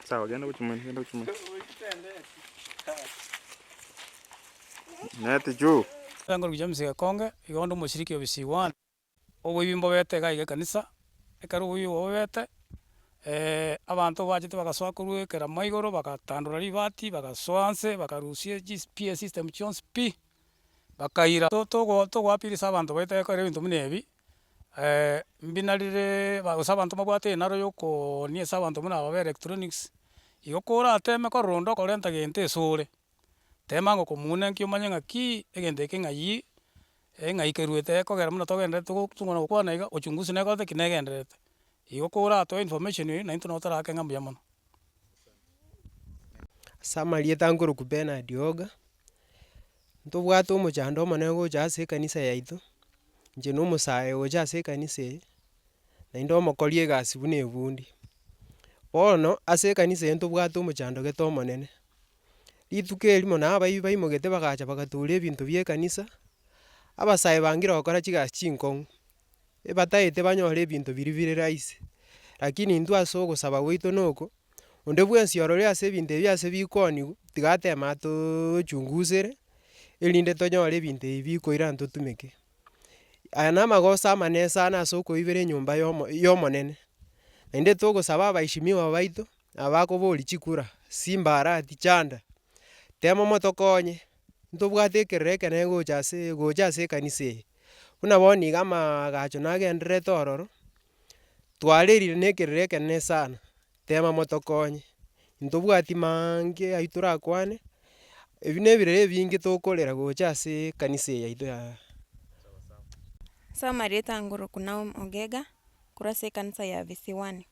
Sawa genda gochia mambia genda gochia mambia neti juu Ekerango gicha ase egekonge, iga onde omochiriki o ebisigwa aane. Oboibi mbobete iga aiga ekanisa, ekero oboibi obwo bobete, abanto bachete bagasoa korwa ekeramo igoro, bagatandora ribati, bagasoa nse, bakarusia chi PA system chionsi pi. bakaira. Togo togoapirisa abanto baito ekero ebinto buna ebi, mbi narire ba gose abanto mbabwate enaro ya okooonia ase abanto buna aba ba electronics, igo korateme korora onde okorenta gento ase ore, tema ng'a okomounenkia omanye ng'akii egento eke ng'ayii, ng'a ikeruete ekogera buna togenderete go tokona gokwana iga, ochunguzi nekorete ki negendererete. Igo koratoe information eyi, naintwe nabo torakeng'a mbuya mono. Ase amarieta nkorokwa Benard Oga, ntobwate omochando omonene gocha ase ekanisa yaito, inche na omosae ocha ase ekanisa eye, naende omokori egasi buna ebundi. Bono ase ekanisa eye ntobwate omochando gete omonene, rituko erimo na abaibia baimogete bagacha bagatoora ebinto bie ekanisa, abasae bangire gokora chigasi chingokong'u, ebataete banyore ebinto biria bire rahisi, rakini intwe ase ogosaba gwaito na oko, onde bwensi orore ase ebinto ebi ase bikooniwa, tiga ateme atoochungusere, erinde tonyore ebinto ebi bikoirana totumeke. Aya na amagoso amanene sana ase okoibera enyomba ya omo ya omonene, naende togosaba abaishimiwa baito. Nabakoboria chikura, simbarati, chanda, temo motokonye, ntobwate ekerero ekenene gocha ase gocha ase ekanisa eye. Buna bono iga amaagacho nagendererete ororo, twarerire na ekerero ekenene sana, tema motokonye, ntobwati maange aywo torakwane, ebi na ebirero ebinge tokorera gocha ase ekanisa eye yaito ya. Ase amaretango Rukuna Omogega, korwa ase ekanisa ya Visiwani.